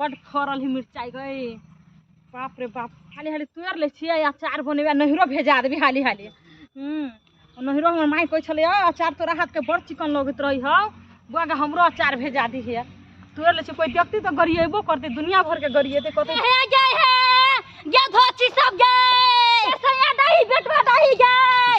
बड फड़ल ही मिरचाई गई बाप रे बाप हाली हाली तोड़ ले छियै अचार बनेबे नहिरो भेजा देबी हाली हाली हूँ नहिरो हमर माई कहै छलै "आ, अचार तोरा हाथके बड़ चिकन लगैत रही हौ बुआ गे हमरो अचार भेजा दिहे तोड़ ले छियै कोइ व्यक्ति तऽ गरिएबो करतै दुनिया भरके गरिएतै कहतै हे गए हे ये धोची सब गए सैया दही बेटवा दही गए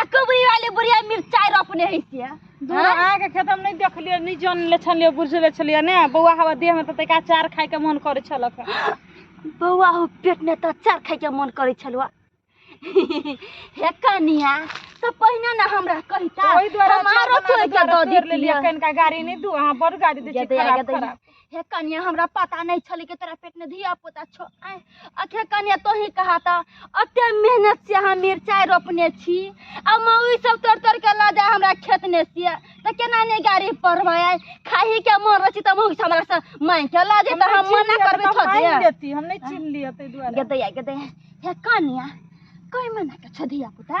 आ कबरी वाले बुढ़िया मिर्चाई रोपने है से दूर आके खेत हम नहीं देखलिए नहीं जान ले छलिए बुझ ले छलिए ने बौआ हवा देह में त तैका चार खाए के मन करे छलक बौआ हो पेट में तो चार खाए के मन करे छलुआ हे कनिया तो पहिने ना हमरा कहता ओहि द्वारा हमारो चार बना के तोड़ के द्वारा दो पेड़ ले लिया देतिया कनका गाड़ी नहीं दू हां बड़ गाड़ी दे गदया, खराब गदया। खराब हे कनिया हमरा पता नहीं छल कि तोरा पेट में धिया पुता छो आय, अखे कनिया तो ही कहा था अते मेहनत से हम मिर्चाई रोपने छी आ मौई सब तोड़ तोड़ के ला जाए हमरा खेत में से तो केना ने गाड़ी पर भाई खाही के मन रची त मौई से हमरा से मांग के ला जे त हम मना करबे छो दे देती हम नहीं छीन लिए ते दुआरे गदया गदया हे कनिया कोई मना के छो धिया पुता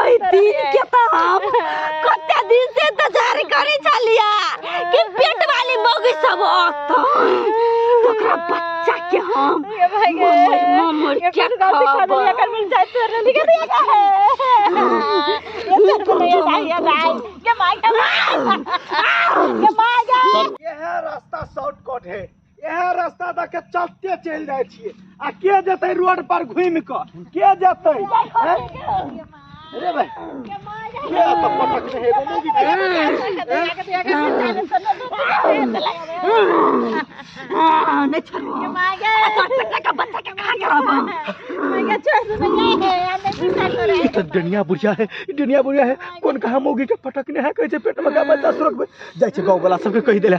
ओइ दिन के त हम कते दिन से इंतजार करै छलिया कि पेट वाली मौगी सब अतन ओकरा बच्चा के हम ममर ममर के खाबो ये है रास्ता शॉर्टकट है इएह रास्ता दऽ के चलते चलि जाइ छियै आ के जेतै रोड पर घुमि कऽ के जेतै हैं? रे भाय के एतऽ पटक रहे एगो मूवी के? नहीं छोड़ो ई तऽ डनिया बुढ़िया है ई डनिया बुढ़िया है कोन कहाँ मौगी के पटकने है कहै छै पेट में गाबे दस रोकबै जाइ छै गाँव वाला सबके कहि देले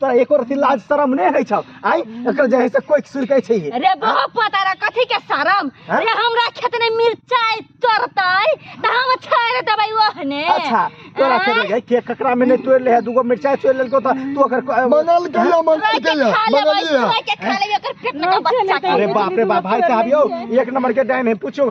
तोरा एको रति लाज शरम नहि होइ छौ आइ एकर जे है से कोइ सुन कहै छै रे बहो पता रे कथी के शरम हाँ? रे हमरा खेत ने मिरचाई तोड़तै त हम छोड़ देबै ओहने अच्छा तोरा आँय? खेत गए के ककरा में नहीं तोड़ ले है दूगो मिर्चाई तोड़ लेलको त तू ओकर को- बनल कहिया मन रोइ के कहिया खा लेबै बनल रोइ के खा लेबै ओकर पेट में का बच्चा के अरे बाप रे बाप भाई साहब यो एक नंबर के डाइन है पूछो